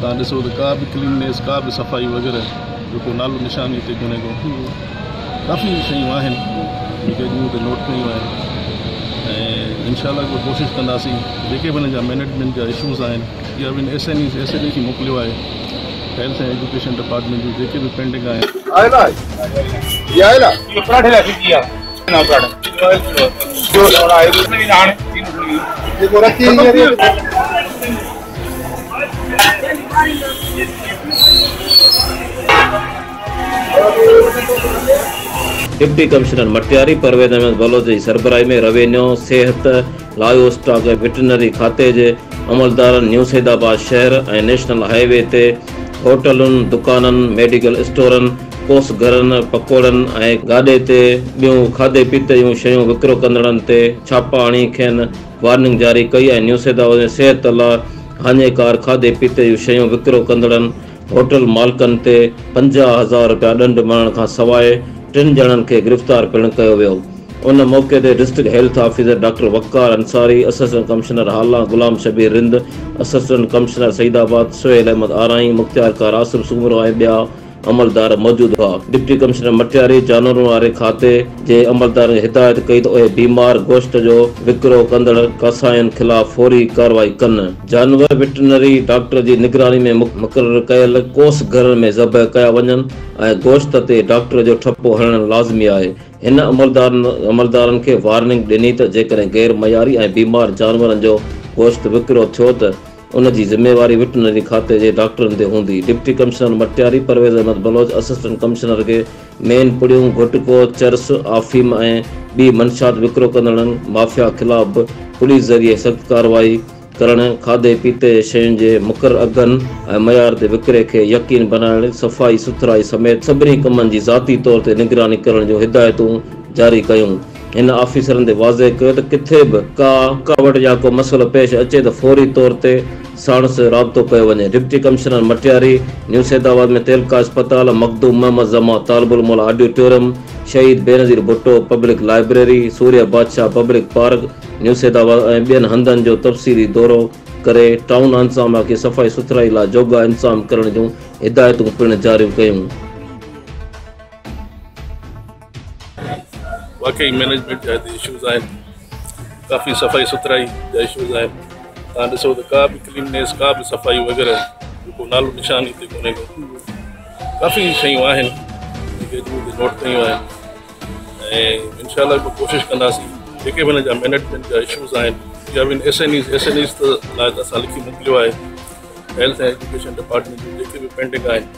توهان ڏسو ته ڪا به ڪليننيس ڪا به صفائي وغيره جو ڪو نالو نشان هتي ڪونهي ڪو ڪافي شيون آهن جيڪي اڄ مون هتي نوٽ ڪيون آهن ۽ انشاء الله ڪو ڪوشش ڪنداسين جيڪي به هن جا مينيجمينٽ جا ايشوز آهن يا به S N S N E کي موڪليو آهي هيلٿ ۽ ايجوڪيشن ڊپارٽمينٽ جون جيڪي به پينڊنگ آهن ڊپٽي ڪمشنر مٽياري پرويز احمد بلوچ جي سربراهي ۾ روينيو، صحت، لائيو اسٽاڪ ۽ وٽرنري کاتي جي عملدارن نيوسيدآباد شهر ۽ نيشنل هاء وي تي هوٽلن، دڪانن، ميڊيڪل اسٽورن، ڪوس گهرن، پڪوڙن ۽ گاڏي تي ٻيون کاڌي پيتي جون شيون وڪرو ڪندڙن تي ڇاپا هڻي کين وارننگ جاري ڪئي آهي نيوسيدا وزير صحت الله هاڃيڪار کاڌي پيتي جون شيون وڪرو ڪندڙن هوٽل مالڪن تي پنجاهه هزار رپيا ڏنڊ مڙهڻ کان سواء ٽن ڄڻن کي گرفتار پڻ ڪيو ويو ان موقعي تي district health officer doctor Waqar Ansari assistant commissioner Hala Ghulam Shabbir Rind assistant commissioner Saeedabad Sohail Ahmed Arain مختيارڪار آصف سومرو ۽ ٻيا عملدار موجود هئا. ڊپٽي ڪمشنر مٽياري جانورن واري کاتي جي عملدارن کي هدايت ڪئي ته اهي بيمار گوشت جو وڪرو ڪندڙ ڪاسائين خلاف فوري ڪارروائي ڪن. جانور وٽرنري ڊاڪٽر جي نگراني ۾ مقرر ڪيل ڪوس گهرن ۾ ذبح ڪيا وڃن ۽ گوشت تي ڊاڪٽر جو ٺپو هڻڻ لازمي آهي. هن عملدارن کي وارننگ ڏني ته جيڪڏهن غير معياري ۽ بيمار جانورن جو گوشت وڪرو ٿيو ته ان جي ذميواري وٽرنري کاتي جي ڊاڪٽرن تي هوندي. Deputy commissioner Matiari Parvez Ahmed Baloch assistant commissioner کي مين پڙيون، گهٽڪو، چرس، آفيم ۽ ٻي منشيات وڪرو ڪندڙن مافيا خلاف به پوليس ذريعي سخت ڪارروائي ڪرڻ، کاڌي پيتي جي شين جي مقرر اگهن ۽ معيار تي وڪري کي يقين بنائڻ، صفائي سٿرائي سميت سڀني ڪمن جي ذاتي طور تي نگراني ڪرڻ جون هدايتون جاري ڪيون. هن آفيسرن تي واضح ڪيو ته ڪٿي به ڪا رڪاوٽ يا ڪو مسئلو پيش اچي ته فوري طور تي ساڻس رابطو ڪيو وڃي. Deputy commissioner Matiari new Saeedabad ۾ تعلقه اسپتال، Makhdoom Muhammad Zaman Talib ul Mola auditorium, Shaheed Benazir Bhutto public library, Surya Badshah public park new Saeedabad ۽ ٻين هنڌن جو تفصيلي دورو ڪري ٽائون انتظاميا کي صفائي سٿرائي لاء جوڳا انتظام ڪرڻ جون هدايتون پڻ جاريون ڪيون. واقعي مينيجمينٽ جا هتي اشوز آهن ڪافي صفائي سٿرائي جا اشوز آهن تان ڏسو ته ڪا به ڪليننيس ڪا به صفائي وغيره کو نالو نشان هتي ڪونهي ڪو ڪافي شيون آهن جيڪي اڄ مون نوٽ ڪيون آهن ۽ انشاء الله به ڪوشش ڪنداسين جيڪي به هن جا مينيجمينٽ جا اشوز آهن يا به S N Es S N Es لاء ته اسان لکي موڪليو آهي هيلٿ ۽ ايجوڪيشن ڊپارٽمنٽ جون جيڪي به پينڊنگ آهن